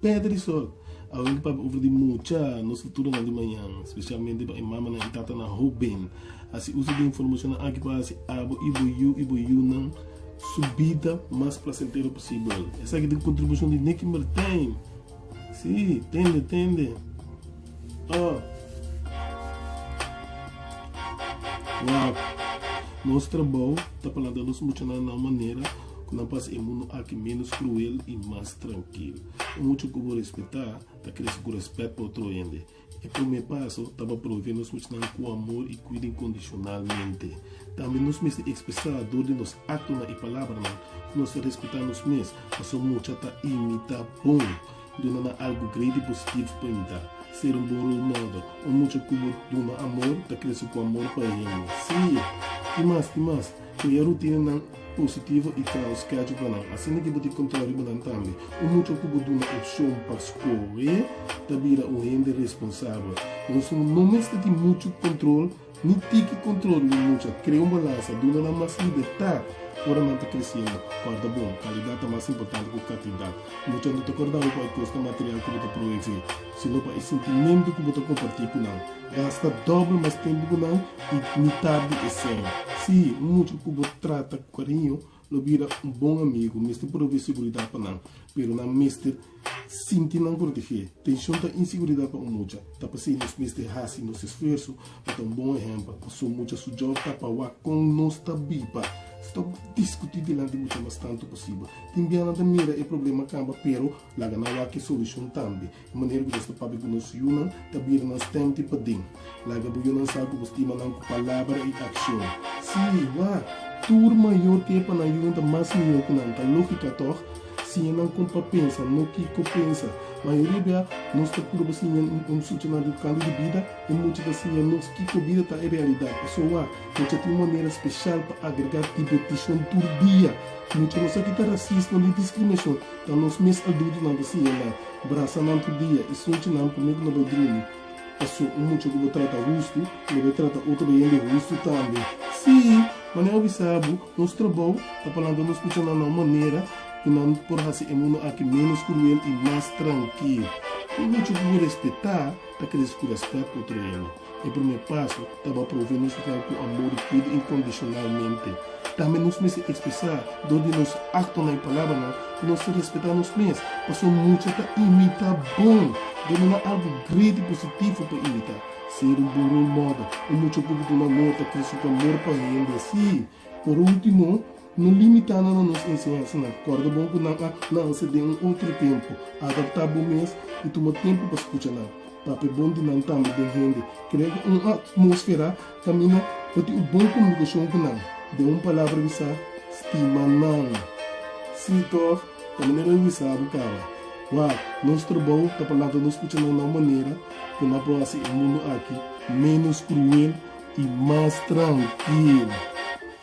Pèrdè di sòl, Awor ki papia over di mucha nos futuronan di mañan, spesialmente pa e mamanan i tatanan hóben. Hasi uso di e informashonnan aki pa hasi abo i bo yu i bo yunan su bida mas plasentero posibel. Esaki ta e kontribushon di Nicky Mertijn. Sí, tende, tende. Oh. Wak. Nos trabou ta planta nos muchanan na un manera. ku nan pasa e mundu aki ménos kruel i mas trankil. Un mucha ku bo respetá ta krese ku rèspèt pa otro hende. E promé paso ta pa prové nos muchanan ku amor i kuida inkondishonalmente. Tambe nos mester ekspresá dor di nos aktonan i palabranan ku nos ta respetá nos mes. Pasobra mucha ta imitá bon, duna nan algu gretu i positivo pa imitá. Ser un bon role model. Un mucha ku bo duna amor ta krese ku amor pa e hende. Sí! Ti mas, ti mas. Cu e rutinanan positivo y trouw schedulenan, asina ki bo tin control riba nan tambe. Un mucha cu bo duna opcion pa scohe ta bira un hende responsabel. Nos no mester tin mucha control ni tiki control riba mucha. Crea un balansa. Duna nan mas libertad ora nan ta creciendo. Corda bon, calidad ta mas importante cu cantidad. Mucha no ta corda bo cu hay cos na material cu bo ta provee. Sino pa e sintimentu ku bo ta kompartí ku nan. Gasta dòbel mas tempu ku nan i mitar di esei. Sí, un mucha ku bo trata ku kariño lo bira un bon amigu mester provee seguridat pa nan. Pero nan mester sinti nan protegé. Tenshon ta inseguridat pa un mucha. Ta pasei nos mester hasi nos esfuerso pa ta un bon ehèmpel. Pasobra mucha su jòb ta pa wak kon nos ta biba. Stòp diskutí dilanti mucha mas tantu posibel. Tin bia nan ta mira e problema kamba pero. Laga nan wak e solushon tambe. E manera ku Dios ta papia ku nos yunan ta bira nan stèmti paden. Laga bo yunan sa ku bo stima nan ku palabra i akshon. Sí, wak! Tur mayor ke pa nan yunan ta mas mihó ku nan. Ta lógika, tòg? Siña nan kon pa pensa, no kiko pensa. Mayoria bia nos ta purba siña un suchi nan riba kantu di bida, i mucha ta siña nos kiko bida ta e realidat. Pasobra wak, nos dja tin un manera speshal pa agregá dibertishon tur dia. Mucha nos akí ta rasismo ni diskriminashon. Ta nos mes adultonan ku siña nan, brasa nan tur dia i suchi nan p'amé ku no bai drumi. Paso, un mucha ku bo trata hustu, lo bai trata otro hende hustu tambe. Sí, ma nan a bisa bo, nos trabou ta pa lanta nos kucha nan na un manera ku nan por hasi e mundu aki ménos kruel i mas trankil. Un mucha ku bo respetá ta krese ku rèspèt pa otro hende. E promé paso ta pa prove nosotros cu amor di cuida incondicionalmente. Tambe nos mester expresa dor di nos actonan i palabranan cu nos ta respeta nos mes, pasobra mucha ta imita bon. Debe na algo great i positivo pa imita. Ser un bon role model. Un mucha poco duna amor ta crece cu amor pa hende así. Por ultimo. No limitá nan na nos enseñansanan. Kòrda bon ku nan a nanse den un otro tempu. Adaptá bo mes i tuma tempu pa skucha nan. Papia bon di nan tambe den hende. Krea un atmósfera kaminda pa tin un bon komunikashon ku nan. Den un palabra wisá, stima nan. Sí tòg, ta manera di wisá bo kaba. Wòw, nos trabou ta pa lanta nos skucha nan na un manera ku nan por hasi e mundu aki ménos kruel i mas trankil.